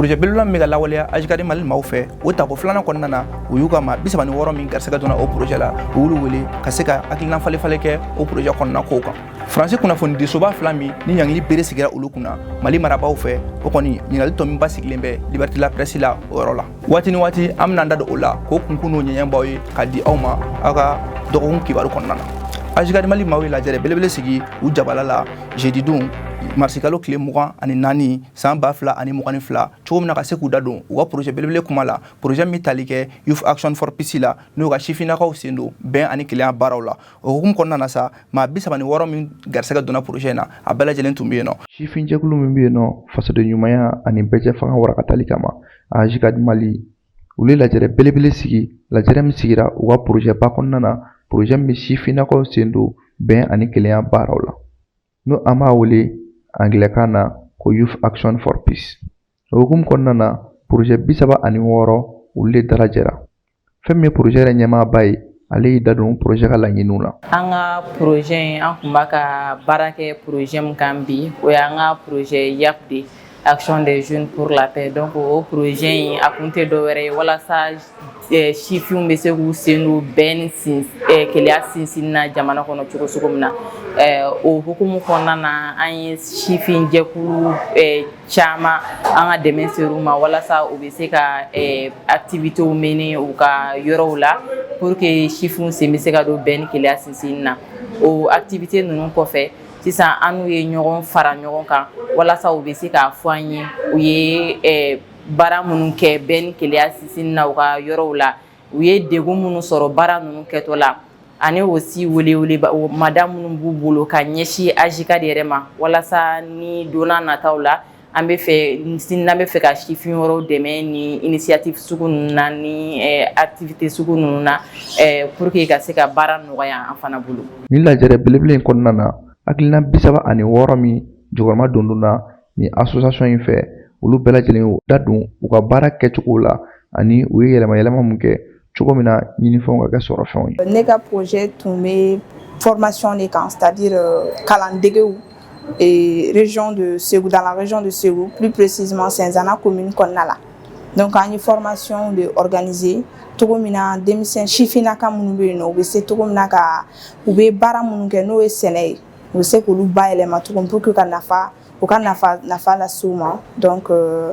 projet belebeleba min bɛ ka lawaleya ajikadi mali maaw fɛ o tako filanan kɔnɔna na u y'u ka maa bi saba ni wɔɔrɔ min garisɛgɛ donna o projet la u y'olu wele ka se ka hakilina falenfalen kɛ o projet kɔnɔna kow kan faransi kunnafonidisoba fila min ni ɲangili bere sigira olu kunna mali marabaaw fɛ o kɔni ɲininkali tɔ min basigilen bɛ liberté la presse la o yɔrɔ la waati ni waati an bɛna da don o la k'o kunkun n'o ɲɛɲɛ b'aw ye ka di aw ma aw ka dɔgɔkun kibaru kɔnɔna na ajikadi mali maaw ye lajɛrɛ belebele sigi u jabala la jeudi don marisikalo tile mugan ani naani san ba fila ani mugan ni fila cogo min na ka se k'u da don u ka porozɛ belebele kuma la porozɛ min tali kɛ youth action for peace la n'o ka sifinnakaw sen don bɛn ani kelenya baaraw la o hukumu kɔnɔna na sa maa bi saba ni wɔɔrɔ min garisɛgɛ donna porozɛ in na a bɛɛ lajɛlen tun bɛ yen nɔ sifinjɛkulu min bɛ yen nɔ fasoden ɲumanya ani bɛɛjɛ fanga warakatali kama ajikadi mali olu ye lajɛrɛ belebele sigi lajɛrɛ min sigira u ka porozɛba kɔnɔna na porozɛ min bɛ sifinnakaw sen don bɛn ani kelenya baaraw la n'o an b'a wele angilɛkan na ko youth action for peace o hukumu kɔnɔna na porozɛ bi saba ani wɔɔrɔ olu de dalajɛra fɛn min ye porozɛ yɛrɛ ɲɛmaaba ye ale y'i da don porozɛ ka laɲiniw la an ka porozɛ in an kun b'a ka baara kɛ porozɛ min kan bi o y'an ka porozɛ yap de ye action des jeunes pour la paix donc o projet in a kun tɛ dɔwɛrɛ ye walasa eh, sifinw bɛ se k'u sen don bɛn ni sin eh, kelenya sinsinni na jamana kɔnɔ cogo cogo min na eh, o hukumu kɔnɔna na an ye sifin jɛkulu caman an ka dɛmɛ ser'u ma walasa u bɛ se ka activitéw mener u ka yɔrɔw la pour que sifinw sen bɛ se ka don bɛn ni kelenya sinsinni na o activité ninnu kɔfɛ sisan an n'u ye ɲɔgɔn fara ɲɔgɔn kan walasa u bɛ se k'a fɔ an ye u ye baara minnu kɛ bɛn ni kelenya sinsinni na u ka yɔrɔw la u ye degun minnu sɔrɔ baara ninnu kɛtɔ la ani aussi welewele mada minnu b'u bolo ka ɲɛsin ajikadi yɛrɛ ma walasa ni donna nataw la an bɛ fɛ n bɛ fɛ ka sifin wɛrɛw dɛmɛ ni initiative sugu ninnu na ni activité sugu ninnu na pour que ka se ka baara nɔgɔya an fana bolo ni lajɛrɛ belebele in kɔnɔna na hakilina bi saba ani wɔɔrɔ min jukɔrɔmadondonna ni association in fɛ olu bɛɛ lajɛlen da don u ka baara kɛcogo la ani u ye yɛlɛma yɛlɛma min kɛ cogo min na ɲinifɛnw ka kɛ sɔrɔfɛnw ye ne ka projet tun bɛ formation de kan c'est à dire euh, kalandegew eh, région de Ségou dans la région de Ségou plus précisément Cinzana commune kɔnɔna la donc an ye formation de organiser cogo min na denmisɛn sifinnaka minnu bɛ yen nɔ u bɛ se cogo min na ka u bɛ baara minnu kɛ n'o ye sɛnɛ ye u bɛ se k'olu bayɛlɛma cogo min pour que ka nafa u ka nafa nafa las'u ma donc euh,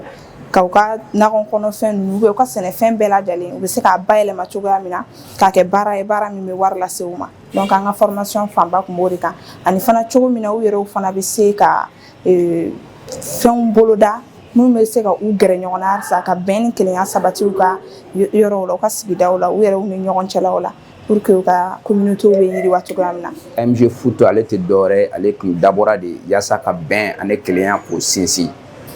ka u ka nakɔ kɔnɔfɛn ninnu ou bien u ka sɛnɛfɛn bɛɛ lajɛlen u bɛ se k'a bayɛlɛma cogoya min na k'a kɛ baara ye baara min bɛ wari lase u ma donc an ka formation fanba tun b'o de kan ani fana cogo min na u yɛrɛw fana bɛ se ka euh, fɛnw boloda minnu bɛ se ka u gɛrɛ ɲɔgɔn na halisa ka bɛn ni kelenya sabati u ka yɔrɔw la u ka sigidaw la u yɛrɛw ni ɲɔgɔn cɛlaw la pour que u ka communauté bɛ yiriwa cogoya min na MG Foot ale tɛ dɔwɛrɛ ye ale tun dabɔra de yaasa ka bɛn ani kelenya k'o sinsin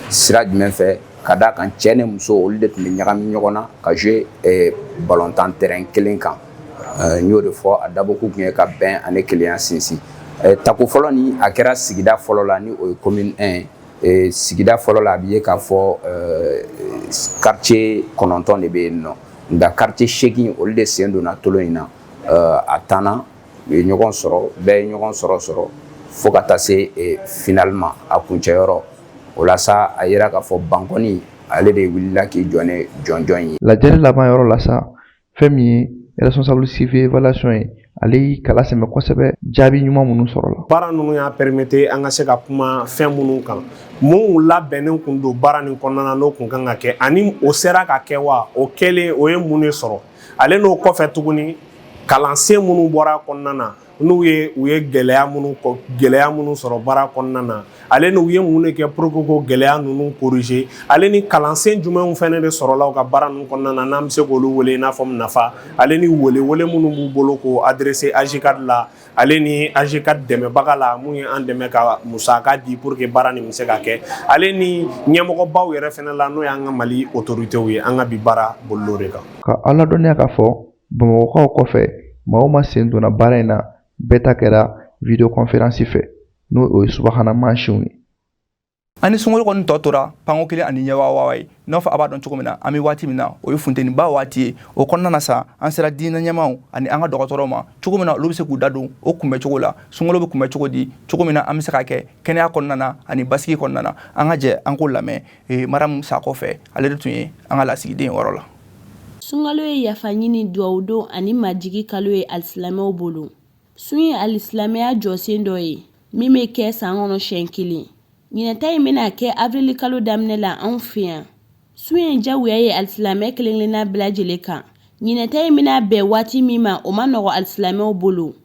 sira jumɛn fɛ ka d'a kan cɛ ni muso olu de tun bɛ ɲagami ɲɔgɔn na ka jouer eh, balontan terrain kelen kan eh, n y'o de fɔ a dabɔkun tun ye ka bɛn ani kelenya sinsin eh, tako fɔlɔ ni a kɛra sigida fɔlɔ la ni o ye commune 1 ye ee sigida fɔlɔ la a bɛ ye k'a fɔ quartier kɔnɔntɔn de bɛ yen nɔ nka quartier seegin olu de sen donna tolon in na a tanna u ye ɲɔgɔn sɔrɔ bɛɛ ye ɲɔgɔn sɔrɔ sɔrɔ fo ka taa se finale ma a kuncɛ yɔrɔ o la sa a yera k'a fɔ bankɔni ale de wulila k'i jɔ ni jɔnjɔn ye lajɛli laban yɔrɔ la sa fɛn min ye responsable suivi évaluation ye ale y'i kala sɛmɛ kosɛbɛ jaabi ɲuman minnu sɔrɔla baara ninnu y'a permettre an ka se ka kuma fɛn minnu kan mun labɛnnen kun don baara nin kɔnɔna na n'o kun kan ka kɛ ani o sera ka kɛ wa o kɛlen o ye mun de sɔrɔ ale n'o kɔfɛ tuguni kalansen minnu bɔra kɔnɔna na n'u ye u ye gɛlɛya minnu kɔ gɛlɛya minnu sɔrɔ baara kɔnɔna na ale n' u ye mun de kɛ pour que ko gɛlɛya ninnu corriger ale ni kalansen jumɛnw fɛnɛ de sɔrɔla u ka baara ninnu kɔnɔna na n'an bɛ se k'olu wele n'a fɔ nafa ale ni welewele minnu b'u bolo k'o adresser AJCAD la ale ni AJCAD dɛmɛbaga la mun ye an dɛmɛ ka musaka di pour que baara nin bɛ se ka kɛ ale ni ɲɛmɔgɔbaw yɛrɛ fɛnɛ la n'o y'an ka mali autoritéw ye an ka bi baara bolil'o de kan k'a ladɔnniya k'a fɔ bamakɔkaw kɔfɛ maa o maa sen donna baara in na bɛɛ ta kɛra vidéoconférence fɛ n'o ye subahana mansinw ye ani sunkalo kɔni tɔ tora panko kelen ani ɲɛwawawa ye n'a fɔ a b'a dɔn cogo min na an bɛ waati min na o ye funteniba waati ye o kɔnɔna na sa an sera diinɛ ɲɛmaaw ani an ka dɔgɔtɔrɔw ma cogo min na olu bɛ se k'u da don o kunbɛ cogo la sunkalo bɛ kunbɛ cogo di cogo min na an bɛ se ka kɛ kɛnɛya kɔnɔna na ani basigi kɔnɔna na an ka jɛ an k'o lamɛn ee maramu sakɔ fɛ ale de tun ye an ka lasigiden yɔrɔ la sunkalo ye yafa ɲini duwawudon ani majigi kalo ye alisilamɛw bolo sun ye alisilamɛya jɔsen dɔ ye min bɛ kɛ san kɔnɔ siɲɛ kelen ɲinɛ ta in bɛna kɛ avrili kalo daminɛ la anw fɛ yan sun ye jagoya ye alisilamɛ kelen-kelenna bɛɛ lajɛlen kan ɲinɛ ta in bɛna bɛn waati min ma o ma nɔgɔ alisilamɛw bolo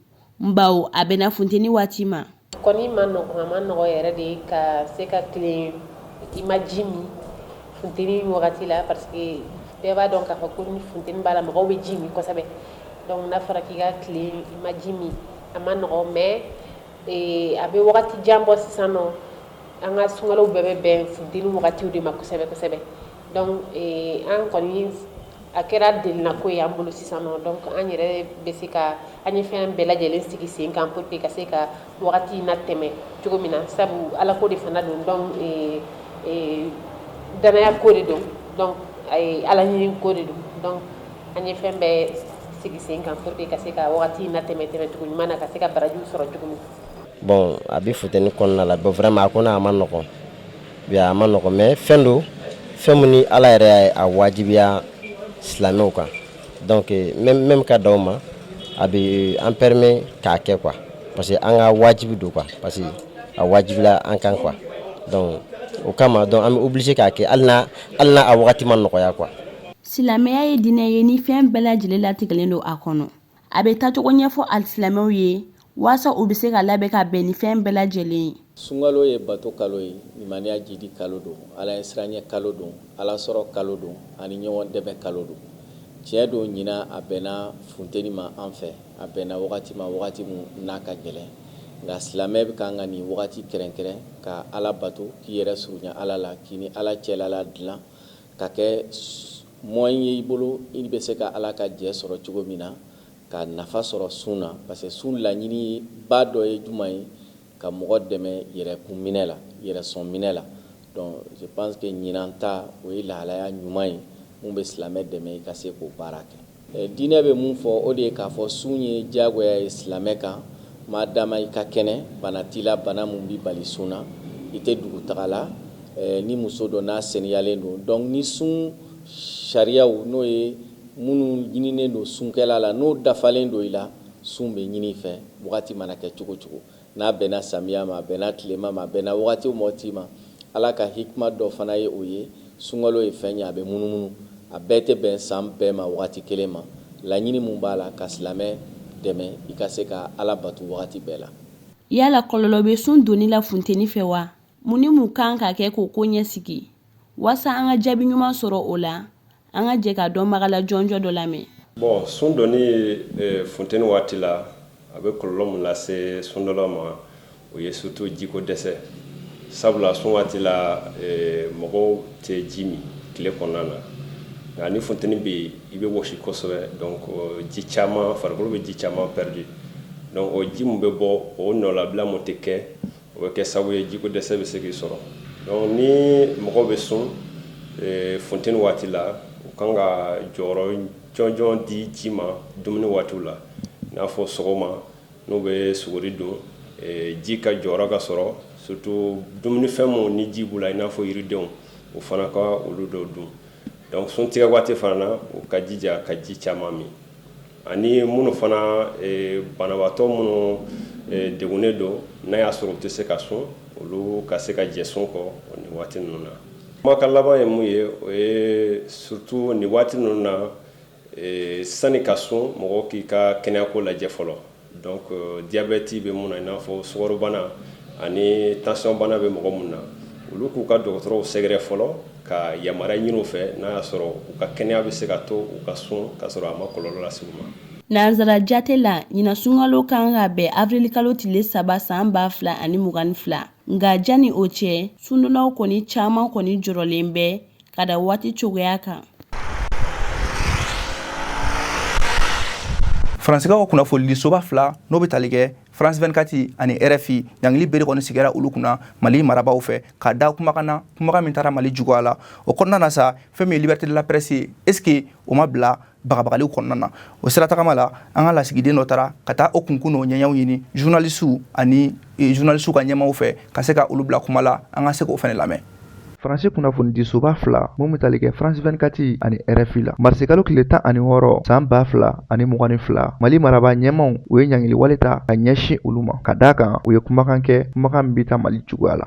nbawo a bɛnna funteni waati ma Kɔni ma nɔgɔ a ma nɔgɔ yɛrɛ de ka se ka tilen i ma ji min funteni wagati la parce que bɛɛ b'a dɔn k'a fɔ ko ni funteni b'a la mɔgɔw bɛ ji min kosɛbɛ donc n'a fɔra k'i ka tilen i ma ji min a ma nɔgɔ mais a bɛ wagati jan bɔ sisan nɔ an ka sunkalow bɛɛ bɛ bɛn funteni wagatiw de ma kosɛbɛ kosɛbɛ an kɔni a kɛra delinako ye an bolo sisan nɔ donc an yɛrɛ bɛ se ka an ye fɛn bɛɛ lajɛlen sigi sen kan pour que ka se ka wagati in natɛmɛ cogo min na sabu ala ko de fana don donc dannaya ko de don donc ala ɲini ko de don donc an ye fɛn bɛɛ sigi sen kan pour que ka se ka wagati in natɛmɛ tɛmɛ cogo ɲuman na ka se ka barajiw sɔrɔ cogo min na bon a bɛ funteni kɔnɔna la bon vraiment a kɔni a ma nɔgɔn Bi a ma nɔgɔn mais fɛn don fɛn min ni Ala yɛrɛ y'a ye a wajibiya silamɛw kan donc même ka dan o ma a bɛ an permet k'a kɛ quoi parce que an ka wajibi don quoi parce que a wajibila an kan quoi donc o kama donc an bɛ obligé k'a kɛ hali n'a a wagati ma nɔgɔya quoi Silamɛya ye diinɛ ye ni fɛn bɛɛ lajɛlen latigɛlen don a kɔnɔ. a bɛ taacogo ɲɛfɔ alisilamɛw ye waasa u bɛ se ka labɛn ka bɛn ni fɛn bɛɛ lajɛlen ye sunkalo ye bato kalo ye limaniya jidi kalo don ala ɲɛsiranɲɛ kalo don ala sɔrɔ kalo don ani ɲɔgɔn dɛmɛ kalo don tiɲɛ don ɲinan a bɛnna funteni ma an fɛ a bɛnna wagati ma wagati min n'a ka gɛlɛn nka silamɛ bɛ kan ka nin wagati kɛrɛnkɛrɛn ka ala bato k'i yɛrɛ surunya ala la k'i ni ala cɛla ladilan Ka kɛ moyen ye i bolo i bɛ se ka Ala ka jɛ sɔrɔ cogo min na, ka nafa sɔrɔ sun na, parce que sun laɲini ba dɔ ye juman ye? Ka mɔgɔ dɛmɛ yɛrɛkun minɛ la, yɛrɛsɔn minɛ la. Donc je pense que ɲinan ta o ye lahalaya ɲuman ye mun bɛ silamɛ dɛmɛ i ka se k'o baara kɛ. Diinɛ bɛ mun fɔ, o de ye k'a fɔ sun ye diyagoya ye silamɛ kan maa dama i ka kɛnɛ, bana t'i la, bana min b'i bali sun na, i tɛ dugutaga la ni muso don n'a seniyalen don. Donc ni sun sariyaw, n'o ye minnu ɲininen don sunkɛla la, n'o dafalen don i la, sun bɛ ɲini i fɛ wagati mana kɛ cogo o cogo. n'a bɛnna samiya ma, a bɛnna tilema ma, a bɛnna wagati o wagati ma, Ala ka hikma dɔ fana ye o ye, sunkalo ye fɛn ye a bɛ munumunu, a bɛɛ tɛ bɛn san bɛɛ ma wagati kelen ma, laɲini min b'a la ka silamɛ dɛmɛ i ka se ka Ala bato wagati bɛɛ la. Yala kɔlɔlɔ bɛ sun donni la funteni fɛ wa? Mun ni mun kan ka kɛ k'o ko ɲɛsigi waasa an ka jaabi ɲuman sɔrɔ o la an ka jɛ ka dɔnbaga la jɔnjɔn dɔ lamɛn bon sun donni e, funteni waati la a bɛ kɔlɔlɔ mun lase sundonna ma o ye surtout jiko dɛsɛ sabula sun waati la e, mɔgɔw tɛ ji min tile kɔnɔna na nka ni funteni bɛ yen i bɛ wɔsi kosɛbɛ donc ji caman farikolo bɛ ji caman pɛridi donc o ji min bɛ bɔ o nɔlabila mun tɛ kɛ o bɛ kɛ sababu ye jiko dɛsɛ bɛ se k'i sɔrɔ donc ni mɔgɔw bɛ sun eh, funteni waati la u kan ka jɔyɔrɔ jɔnjɔn di ji ma dumuni waatiw la i n'a fɔ sɔgɔma n'u bɛ suguri dun eh, ji ka jɔyɔrɔ ka sɔrɔ surtout dumunifɛn minnu ni ji b'u la i n'a fɔ yiridenw u fana ka olu dɔw dun donc sun tigɛ waati fana na u ka jija ka ji caman min Ani minnu fana banabaatɔ minnu degunnen don n'a y'a sɔrɔ u tɛ se ka sun olu ka se ka jɛ sun kɔ nin waati ninnu na kumakan laban ye mun ye o ye surtout nin waati ninnu na sani ka sun mɔgɔ k'i ka kɛnɛyako lajɛ fɔlɔ Donc diabète bɛ minnu na i n'a fɔ sukarobana ani tension bana bɛ mɔgɔ minnu na, olu k'u ka dɔgɔtɔrɔw sɛgɛrɛ fɔlɔ ka yamaruya ɲini u fɛ n'a y'a sɔrɔ u ka kɛnɛya bɛ se ka to u ka sun k'a sɔrɔ a ma kɔlɔlɔ lase u ma. Nansara jate la, ɲinan sunkalo kan ka bɛn avirilikalo tile saba san 2022, nka jani o cɛ, sundonnaw kɔni caman kɔni jɔrɔlen bɛ ka da waati cogoya kan faransikaw ka kunnafonidisoba fila n'o bɛ tali kɛ france 24 ani rfi ɲangili bere kɔni sigira olu kunna mali marabaw fɛ ka da kumakan na kumakan min taara mali juguya la o kɔnɔna na sa fɛn min ye liberté de la presse ye est ce que o ma bila bagabagaliw kɔnɔna na o sira tagama la an ka lasigiden dɔ taara ka taa o kunkun n'o ɲɛɲɛw ɲini journalisiw ani eh, journalisiw ka ɲɛmaw fɛ ka se ka olu bila kuma la an ka se k'o fɛnɛ lamɛn faransi kunnafonidisoba fila mun bɛ tali kɛ france 24 ani rfi la marisikalo tile tan ani wɔɔrɔ san ba fila ani mugan ni fila mali maraba ɲɛmaw u ye ɲangiliwale ta ka ɲɛsin olu ma ka d'a kan u ye kumakan kɛ kumakan min bɛ taa mali juguya la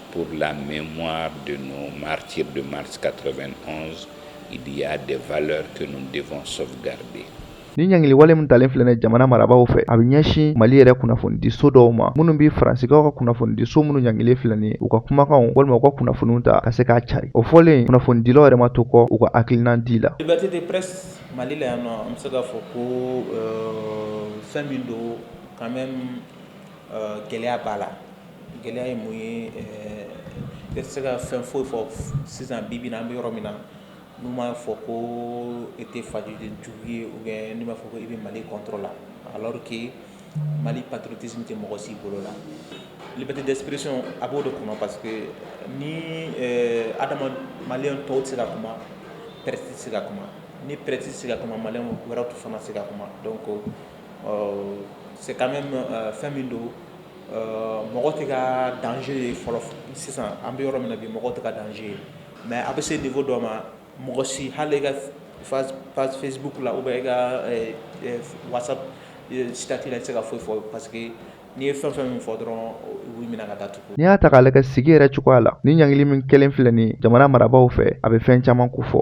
Pour la mémoire de nos martyrs de mars 91, il y a des valeurs que nous devons sauvegarder. nin ɲangili wale min talen filɛ nin jamana marabaw fɛ a bɛ ɲɛsin mali yɛrɛ kunnafonidi so dɔw ma minnu bɛ faransikaw ka kunnafonidi so minnu ɲangilen filɛ nin u ka kumakanw walima u ka kunnafoniw ta ka se k'a cari o fɔlen kunnafonidilaw yɛrɛ ma to kɔ u ka hakilinan di la liberté de presse mali la yan nɔ an bɛ se k'a fɔ ko euh, fɛn min don quand même euh, gɛlɛya b'a la gɛlɛya ye mun ye ne tɛ se ka fɛn foyi fɔ sisan bibi in na an bɛ yɔrɔ min na n'u m'a fɔ ko e tɛ fasoden jugu ye ou bien n'u m'a fɔ ko i bɛ mali contre la alors que mali patriotisme tɛ mɔgɔ si bolo la liberté d'expression a b'o de kɔnɔ parce que ni adama maliyɛn tɔw tɛ se ka kuma presse tɛ se ka kuma ni presse tɛ se ka kuma maliyɛn wɛrɛw tɛ fana se ka kuma donc c'est quand même fɛn min don Mɔgɔ tɛ ka danger ye fɔlɔ sisan an bɛ yɔrɔ min na bi mɔgɔ tɛ ka danger ye mais a bɛ se niveau dɔ ma mɔgɔ si hali i ka page Facebook la ou bien i ka WhatsApp statut tɛ se ka foyi fɔ parce que n'i ye fɛn fɛn min fɔ dɔrɔn u b'i minɛ ka datugu n'i y'a ta k'a lajɛ sigi yɛrɛ cogoya la ni ɲangili min kelen filɛ ni jamana marabaw fɛ a bɛ fɛn caman ko fɔ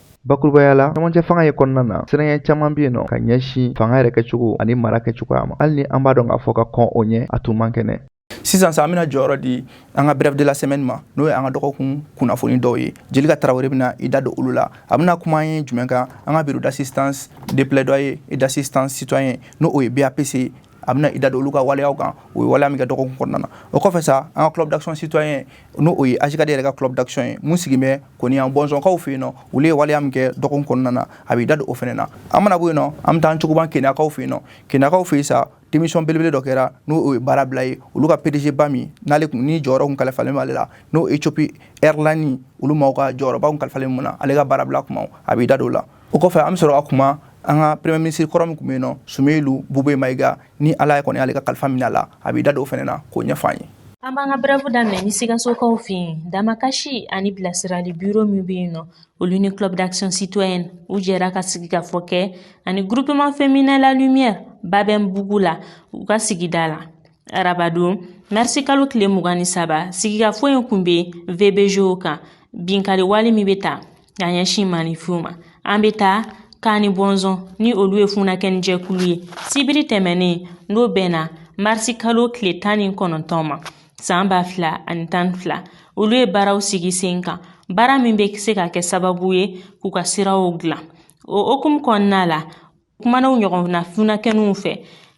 bakurubaya la cɛmancɛ fanga ye kɔnɔna na siranya caman bɛ yen nɔ ka ɲɛsin fanga yɛrɛ kɛcogo ani mara kɛcogoya ma hali ni an b'a dɔn k'a fɔ ka kɔn o ɲɛ a tun man kɛnɛ sisan sa an bɛna jɔyɔrɔ di an ka bref de la semaine ma n'o ye an ka dɔgɔkun kunnafoni dɔw ye Jelika Tarawele bɛna i da don olu la a bɛna kuma an ye jumɛn kan an ka bureau d'assistance de plaidoyer et d'assistance citoyen n'o o ye BAPC a bɛna i da don olu ka waleya kan o ye waleya min kɛ dɔgɔkun kɔnɔna na o kɔfɛ sa an ka club d'action citoyen n'o o ye AJCAD yɛrɛ ka club d'action ye min sigilen bɛ Kani Bɔnsɔnkaw fɛ yen nɔ olu ye waleya min kɛ dɔgɔkun kɔnɔna na a b'i da don o fana na an mana bɔ yen nɔ an bɛ taa an cogoban keniyakaw fɛ yen nɔ keniyakaw fɛ yen sa démission belebele dɔ kɛra n'o ye baara bila ye olu ka PDG ba min n'ale kun ni jɔyɔrɔ kun kalifalen b'ale la n'o Ethiopie Airlines olu maaw ka jɔyɔrɔba kun kalifalen min na ale ka baara bila kuma a b'i da don o la o kɔfɛ an bɛ sɔrɔ ka kuma an ka premier ministre kɔrɔ min kun bɛ yen nɔ Sumeyulu Bube Mayiga ni Ala ye kɔni y'ale ka kalifa minɛ a la a b'i da don o fana na k'o ɲɛfɔ an ye. An b'an ka bref daminɛ ni sikasokaw fɛ yen damakasi ani bilasirali biro min bɛ yen nɔ olu ni club d'action citoyenne u jɛra ka sigikafɔ kɛ ani groupement féminin la lumière Babɛnbugu la u ka sigida la arabadon marisi kalo tile mugan ni saba sigikafɔ in kun bɛ VBG kan binkali wale min bɛ ta Ka ɲɛsin maanifinw ma an bɛ taa Kani Bɔnsɔn ni olu ye funankɛnin jɛkulu ye sibiri tɛmɛnen n'o bɛnna marisi kalo tile tan ni kɔnɔntɔn ma san ba fila ani tan ni fila olu ye baaraw sigi sen kan baara min bɛ se ka kɛ sababu ye k'u ka siraw dilan o hukumu kɔnɔna la kumanaw ɲɔgɔnna funankɛninw fɛ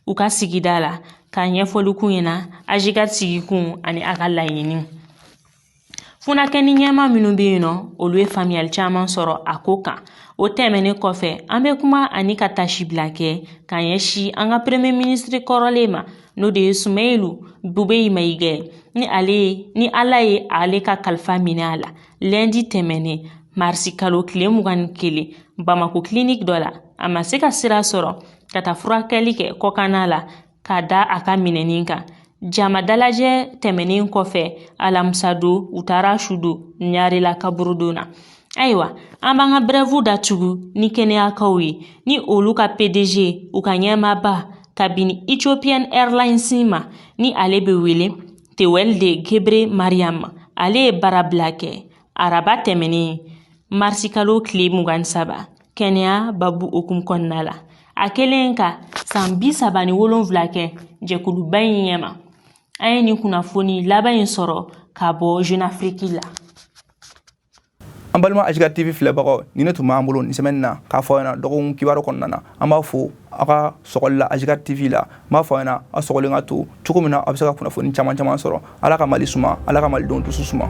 u ka sigida la ka ɲɛfɔli k'u ɲɛna AJCAD sigikun ani a ka laɲini funankɛni ɲɛma minnu bɛ yen nɔ olu ye faamuyali caman sɔrɔ a ko kan o tɛmɛnen kɔfɛ an bɛ kuma ani ka taasibila kɛ ka ɲɛsin an ka premier ministre kɔrɔlen ma n'o de ye sumɛyilu bube mayiga ye ni ala ye ale ka kalifa minɛ a la lundi tɛmɛnen marisi kalo tile mugan ni kelen bamako kiliniki dɔ la a ma se ka sira sɔrɔ ka taa furakɛli kɛ kɔkanna la ka da a ka minɛni kan jama dalajɛ tɛmɛnen kɔfɛ alamisa don u taara su don ɲarela kaburudon na ayiwa an b'an ka brève datugu ni kɛnɛyakaw ye ni olu ka pdg u ka ɲɛmaaba kabini ethiopian airlines ma ni ale bɛ wele tewolde gebre mariam ale ye baara bila kɛ araba tɛmɛnen marisikalo tile mugan ni saba kɛnɛya baabu hukumu kɔnɔna la a kɛlen ka san bi saba ni wolonwula kɛ jɛkuluba in ɲɛma an ye nin kunnafoni laban in sɔrɔ ka bɔ jeune afrique la an balima ajicad tv filɛbagaw nin de tun b'an bolo nin semaine na k'a fɔ aw ɲɛna dɔgɔkun kibaru kɔnɔna na an b'aw fo aw ka sɔgɔli la ajicad tv la n b'a fɔ aw ɲɛna aw sɔgɔlen ka to cogo min na aw bɛ se ka kunnafoni caman caman sɔrɔ ala ka mali suma ala ka malidenw dusu suma